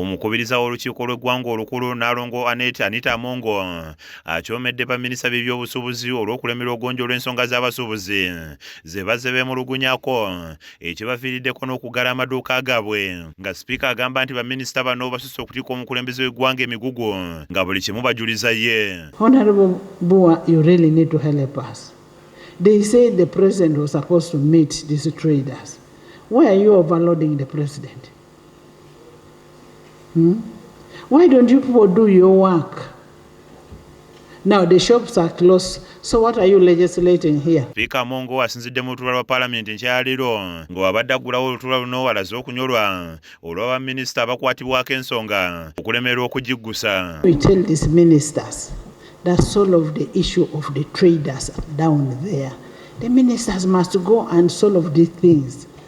Omukubiriza w'olukiiko lw'eggwanga olukulu Nnaalongo Annet Anita Amongo akyomedde baminisita b'ebyobusuubuzi olw'okulemerwa okugonjoola ensonga z'abasuubuzi ze bazze beemulugunyako ekibaviiriddeko n'okuggala amaduuka gaabwe nga sipiika agamba nti baminisita bano basusse okutikka omukulembeze w'eggwanga emigugu nga buli kimu bajuliza ye. Honorable Bua, you really need to help us. They say the president was supposed to meet these traders. Why are you overloading the president? Hmm? Why don't you people do your work? Now the shops are closed. So what are you legislating here? Speaker Mongo asinzidde mu lutuula lwa palamenti nkyaliro nga wabadde aggulawo olutuula luno walaze okunyolwa olwa baminisita abakwatibwako ensonga okulemererwa okugiggusa. We tell these ministers that solve the issue of the traders down there. The ministers must go and solve these things.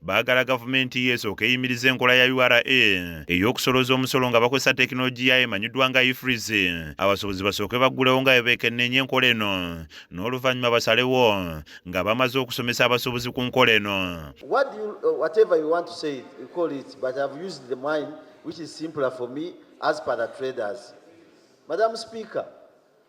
baagala gavumenti ye esooka eyimiriza enkola ya ura ey'okusolooza omusolo nga bakozesa tekinologiya emanyiddwa nga ifriz abasuubuzi basooke baggulewo nga bebeekenneenye enkola eno n'oluvannyuma basalewo nga bamaze okusomesa abasuubuzi ku nkola eno uh, Madam Speaker,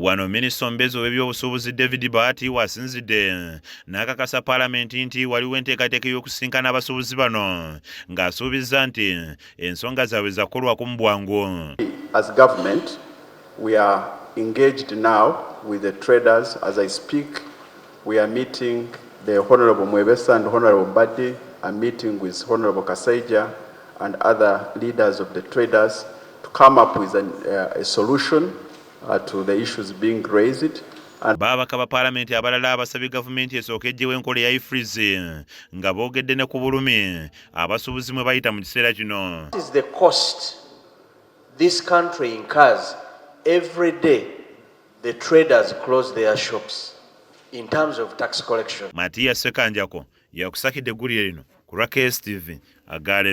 Wano minisita omubeezi ow'ebyobusuubuzi David Bahati wasinzidde n'akakasa palamenti nti waliwo enteekateeka ey'okusisinkana abasuubuzi bano ng'asuubizza nti ensonga zaabwe zakukolwako mu bwangu. As government, we are engaged now with the traders as I speak. We are meeting the Honourable Mwebesa and Honourable Mbadi are meeting with Honourable Kasaija and other leaders of the traders to come up with an, uh, a solution uh, to the issues being raised. Babaka ba palamenti abalala abasabye gavumenti esooka ejjewo enkola eya ifriz nga boogedde ne ku bulumi abasuubuzi mwe bayita mu kiseera kino The traders close their shops in terms of tax collection. Matiya Sekanjako yakusakidde eggulire lino ku lwa KSTV agalero.